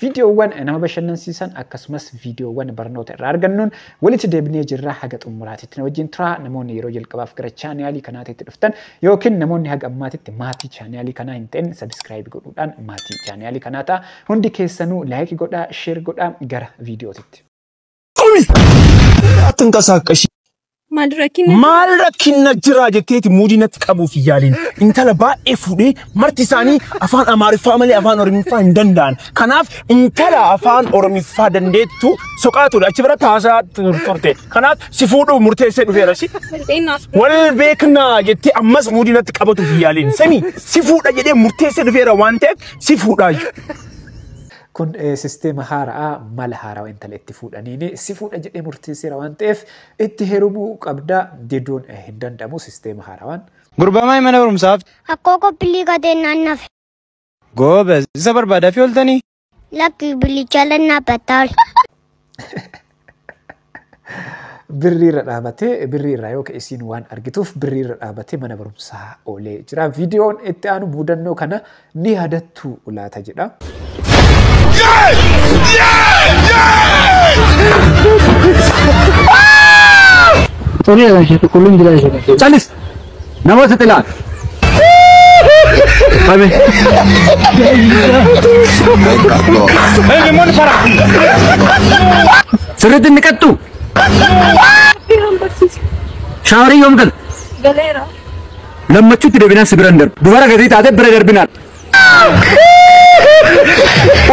Viidiyoowwan nama bashannansiisan akkasumas viidiyoowwan barnoota irraa argannuun walitti deebinee jirra haga xumuraatitti na wajjin turaa namoonni yeroo jalqabaaf gara chaanaalii kanaatitti dhuftan yookiin namoonni haga ammaatitti maatii chaanaalii kanaa hin ta'in sabiskiraayib godhuudhaan maatii chaanaalii kanaa ta'a hundi keessanuu laayikii godhaa sheer godhaa gara viidiyootitti. Qumi! Attin qasaaqashi. Maal rakkina? Maal rakkina jiraa jetteeti muudii natti qabuuf hin yaaliin. Intala baay'ee fuudhee marti isaanii afaan Amaariffaa malee afaan Oromiffaa hin danda'an. Kanaaf intala afaan Oromiffaa dandeettu soqaa ture. Achi biratti haasaa tur- turte. Kanaaf si fuudhuu murteessee dhufeera si. Fakkeenyaaf Wal beeknaa jettee ammas muudii natti qabatuuf hin yaaliin. Sami si fuudha jedhee murteessee dhufeera waan ta'eef si fuudhaa jiru. Kun sisteema haara'a, mala haarawa intala itti fuudhaniini. Si fuudha jedhee murteesseera waan ta'eef itti heerumuu qabda. Diduun hin danda'amu sisteema haarawaan. Gurbamaa imala barumsaaf. Akkoo koo pillii kateen naan nafe. Goobez, isa barbaadaafii ooltanii? Lakki billicha lannaa battaal. birrii irra dhaabatee birrii irraa yoo ka'e isiin waan argituuf birrii irra dhaabatee mana barumsaa oolee jira. Viidiyoon itti aanu muudannoo kana ni yaadattu laata jedha. Sorry, Sheikh, kullum gida Sheikh. Calis! Nama sixilaa. Fame. Sirriitti inni qattu. Shaawarii yoom galu? Galeera. Lammachuutti deebinaan si biran darbu. Dubara gatii taate bira darbinaan.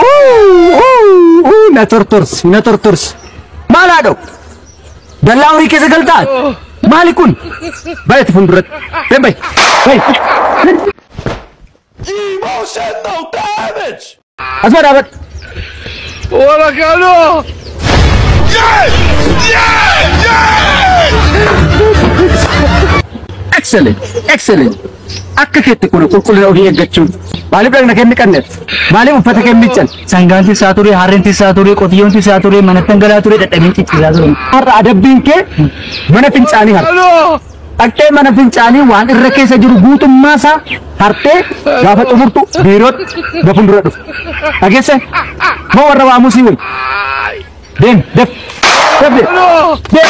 Uu, uu, uu, Na tortorsi, na tortorsi. Maal haadhoo? Dallaa horii keessa galtaa? Maali kun? Baay'eetti fuulduratti. Deem bayi. Bayi. Emotional damage! Asuma dhaabadhu. Wala kanoo! Excellent. Excellent. Akka keetti kun qulqullina ofii eeggachuun maaliif dhagna kee miqanneef? Maaliif uffata kee miiccan? Sangaan tissaa ture, harreen tissaa ture, qotiyyoon tissaa ture, manattan galaa ture, dadhabeen cicciisaa ture. Har'a adabbiin kee mana fincaanii har'a. Dhaqxee mana fincaanii waan irra keessa jiru guutummaa isaa hartee gaafa xumurtu biirootti na fuuldura dhufu. Dhageesse? Moo warra waamuu sii wayyu? Deem, def, def, deem, deem.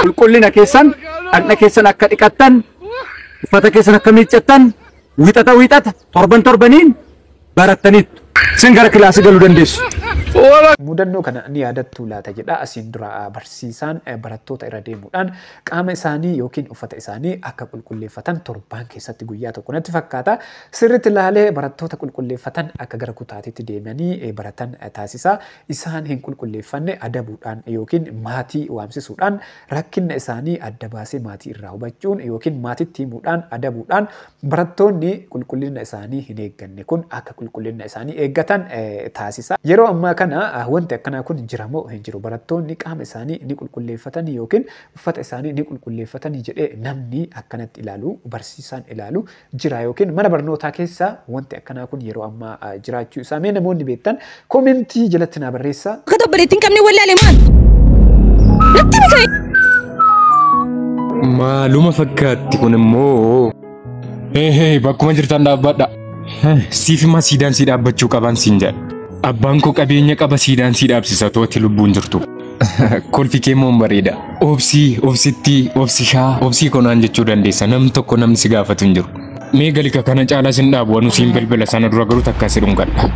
Qulqullina keessan, dhaqna keessan akka dhiqattan, uffata keessan akka miiccattan, wixata wixata, torban torbaniin barattaniittu. Isin gara kilaasii galuu dandeessu. Mudannoo kana ni yaadattuu laata jedha asiin dura barsiisaan barattoota irra deemuudhaan qaama isaanii yookiin uffata isaanii akka qulqulleeffatan torbaan keessatti guyyaa tokko natti fakkaata. Sirriitti ilaalee barattoota qulqulleeffatan akka gara kutaatiitti deemanii baratan taasisa. Isaan hin qulqulleeffanne adabuudhaan yookiin maatii waamsisuudhaan rakkinna isaanii adda baasee maatii irraa hubachuun yookiin maatitti himuudhaan adabuudhaan Barattoonni qulqullina isaanii hin eegganne kun akka qulqullina isaanii eeggatan taasisa. Yeroo ammaa kana wanti akkanaa kun jira moo hin jiru? Barattoonni qaama isaanii ni qulqulleeffatanii yookiin uffata isaanii ni qulqulleeffatanii jedhee namni akkanatti ilaalu, barsiisaan ilaalu jira yookiin mana barnootaa keessa wanti akkanaa kun yeroo ammaa jiraachuu isaa mee namoonni beektan Komentii jalatti naa barreessaa. Akka obboleettii hin qabne wallaale maal? Natti ni ka'e. Maaluma fakkaatti kun immoo. Eehee bakkuma jirtan dhaabbadha. Siif immoo siidaan sii dhaabbachuu qaban siin jedha. Abbaan koo qabeenya qaba siidaan sii dhaabsisa tooti lubbuun jirtu. Kolfi kee immoo bareeda. Obsii, obsittii, obsishaa, obsii konaan jechuu dandeessa. Namni tokko namni si gaafatu hin jiru. Mee galika kana caalaa sin dhaabu wanu siin bilbila sana dura garuu takka si dhungadha.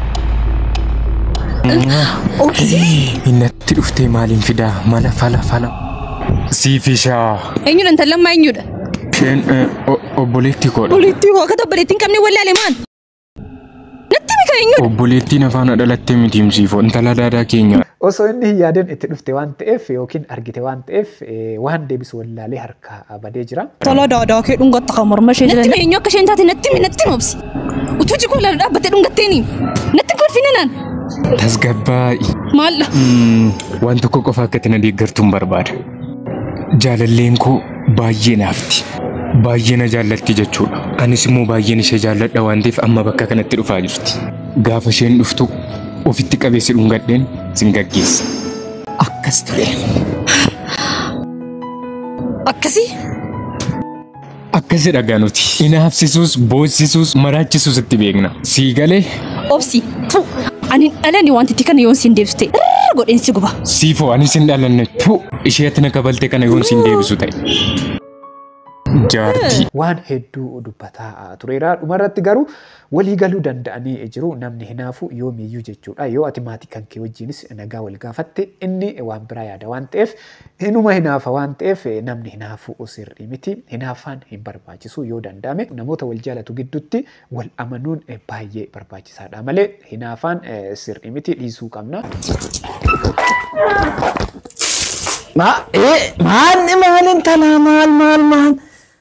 Innatti dhuftee maaliin fidaa mala fala fala. Siifishaa. Eenyudha intallan maa eenyudha? Isheen obboleetti koodha. Walitti hoo akka obboleetti hin qabne wallaalee maan? Natti mika eenyudha? Obboleettiin afaana dhalattee miti himsiifoo intala daadaa keenya. Osoo inni hin yaadin itti dhufte waan ta'eef yookiin argite waan ta'eef eh, waan deebisu wallaalee harkaa ah, badee jira. Tala daadaa kee dhungatta kan morma ishee Natti himi eenyu akka isheen taate natti himi natti himi obsi. Utuu jikoo laala dhaabbattee dhungatteeni. Natti hin kolfina naan. Tasgabbaa'i. Maaldha? Mm, Waan tokko qofa akka itti na deeggartuun barbaada. Jaalalleen koo baay'ee naafti. Baay'ee na jaallatti jechuudha. Anis immoo baay'een ishee jaalladha waan ta'eef amma bakka kanatti dhufaa jirti. Gaafa isheen dhuftu ofitti qabee si dhungadheen sin gaggeessa. Akkas ture. Akkasii? Akkasi dhagaa nuti. Inaafsisuus, boossisuus, maraachisuus itti beekna. Sii galee? Obsi, tu, ani dhalani wanti itti kana yoon siin deebiste irra godheen si guba. Siifoo ani sin dhalanne. Tu, ishee ati na kabalte kana yoon siin deebisu ta'e. Jaartii. waan hedduu dubbataa tureera. Dhumarratti garuu walii galuu danda'anii jiru. Namni hinaafu yoomiyyuu jechuudha. Yoo ati maatii kan kee wajjinis nagaa wal gaafatte inni waan biraa yaada waan ta'eef Inuma hinaafa waan ta'eef namni hinaafu sirrii miti. Hinaafaan hin barbaachisu yoo danda'ame namoota wal jaalatu gidduutti wal amanuun baay'ee barbaachisaadha malee hinaafaan sirrii miti dhiisuu qabna. Maa ee maal maal intalaa maal maal maal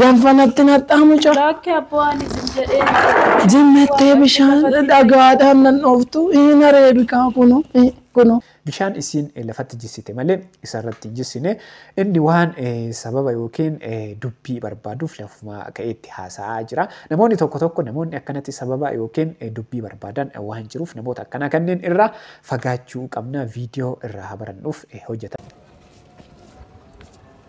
Danfa natti naxxaa mucaa. Laakki abboo ani jim jedhee miti. Jimmettee bishaan dhagaadhaan nan dhooftu hin areebikaa kuno kuno. Bishaan isiin lafatti jissite malee isarratti hin jissine. Inni waan sababa yookiin dubbii barbaaduuf lafumaa ka'eetti haasa'aa jira. Namoonni tokko tokko namoonni akkanatti sababa yookiin dubbii barbaadan waan jiruuf namoota akkanaa kanneen irraa fagaachuu qabna viidiyoo irraa haa barannuuf hojjetan.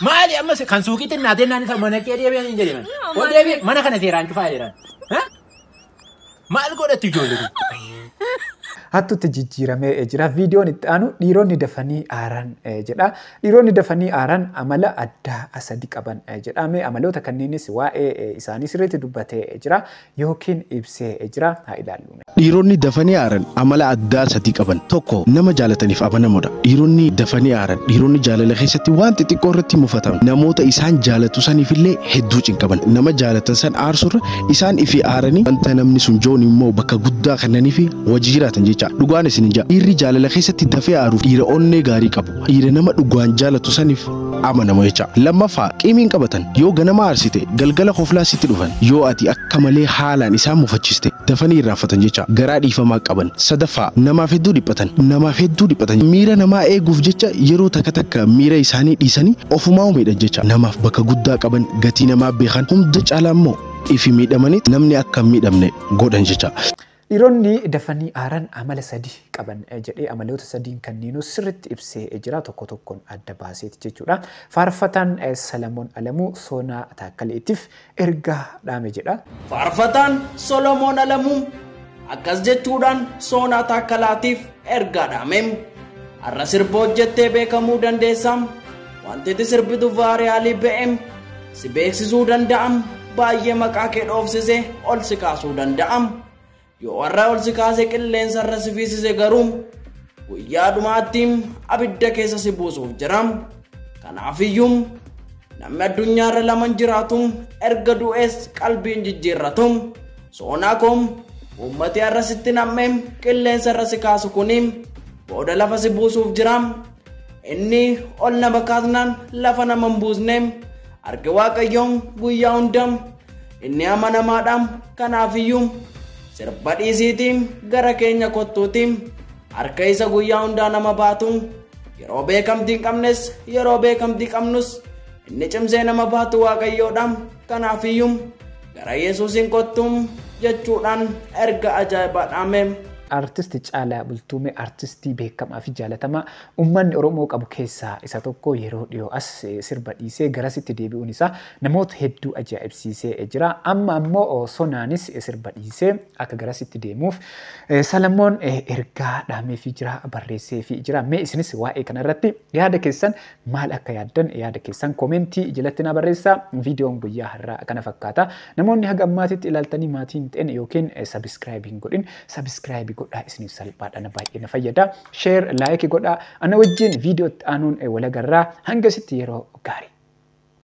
Maali amma se- kan suuqiitti hin naatee naannisa mana kee deebi'an hin jedhe mana. Yoo, Ol maali? deebi'e mana kana seeraan cufaa jedhan. Ha? Maal godhatti ijoollee kun? Hattuutti jijjiiramee eh, jira. Viidiyoon itti aanu dhiironni dafanii aaran eh, jedha. Dhiironni dafanii aaran amala addaa sadi qaban eh, jedha. Mee amaloota kanneenis waa'ee eh, isaanii sirriitti dubbatee eh, jira. yookiin ibsee jira. Haa ilaallu mee. Dhiironni dafanii aaran amala addaa sadii qaban. Tokko, nama jaalataniif amanamoodha. Dhiironni dafanii aaran dhiironni jaalala keessatti waan xixiqqoo irratti mufatan. Namoota isaan jaalatu saniif illee hedduu cinqaman. Nama jaalatan san aarsurra isaan ifii aaranii wanta namni sun joon immoo bakka guddaa kennaniifi wajji jiraatan jecha. Dhugaan isinin ja'a. Dhiirri jaalala keessatti dafee aaruuf dhiira onnee gaarii qabu. Dhiira nama dhugaan jaalatu saniif amanamu jecha lammaffaa qiimiin qabatan yoo ganama aarsite galgala koflaa sitti dhufan yoo ati akka malee haalaan isaan mufachiste dafanii irraanfatan jecha garaa dhiifamaa qaban sadaffaa namaaf hedduu dhiphatan namaaf hedduu dhiphatan miira namaa eeguuf jecha yeroo takka takka miira isaanii dhiisanii ofumaa miidhan jecha namaaf bakka guddaa qaban gatii namaa beekan hunda caalaa immoo ifi miidhamanii namni akka hin miidhamne godhan jecha. Dhiironni dafanii aaran amala sadi qaban jedhee amaloota sadiin kanniinuu sirritti ibsee jira tokko tokkon adda baaseeti jechuudha. Faarfataan Salamoon Alamuu Soonaa Taakkaleetif ergaa dhaame jedha. Faarfataan Solomoon Alamuu akkas jechuudhaan Soonaa Taakkalaatiif ergaa dhaame. Har'a sirba hojjettee beekamuu dandeessa. Wanti ati sirbitu vaariyaalii BM si beeksisuu danda'am baay'ee maqaa kee dhoofsise ol si kaasuu danda'am. Yoo warra ol si kaase qilleensa irra si fiisise garuu guyyaa dhumaatti abidda keessa si buusuuf jira. Kanaafiyyuu namni addunyaa irra laman jiraatu erga du'ees qalbiin jijjiirratu. Soonaa koo uummati har'a sitti nam'ee qilleensa irra si kaasu kuni booda lafa si buusuuf jira. Inni ol nama kaasnaan lafa nama hin buusne arge waaqayyoon guyyaa hunda inni amanamaadha kanaafiyyuu sirba dhiisiitii gara keenya kottuutii harka isa guyyaa hundaa nama baatu yeroo beekamtii hin qabnes yeroo beekamtii qabnus inni cimsee nama baatu waaqayyoodha kanaafiyyuu Gara Yesuusiin kottu jechuudhaan erga ajaa'ibaa dhaame. Artist Caalaa Bultumee artistii beekamaa fi jaalatamaa uummanni Oromoo qabu keessaa isa tokko yeroo dhiyoo as sirba dhiisee garasitti deebi'uun isaa namoota hedduu ajaa'ibsiisee jira. Amma ammoo Sonaanis sirba dhiisee akka garasitti deemuuf Salamoon ergaa dhaameefii jira, barreesseefii jira. Mee isinis waa'ee kanarratti yaada keessan Maal akka yaaddan yaada keessan koomeentii jalatti naa barreessaa. Viidiyoon guyyaa har'aa kana fakkaata. Namoonni haga ammaatitti ilaaltanii maatii hin ta'in yookiin sabiskiraayib hin godhin sabiskiraayibi godhaa isiniif salphaadha na baay'ee na fayyada. Sheer laayiki godhaa. Ana wajjin viidiyoo itti aanuun walagarraa hangasitti yeroo gaarii.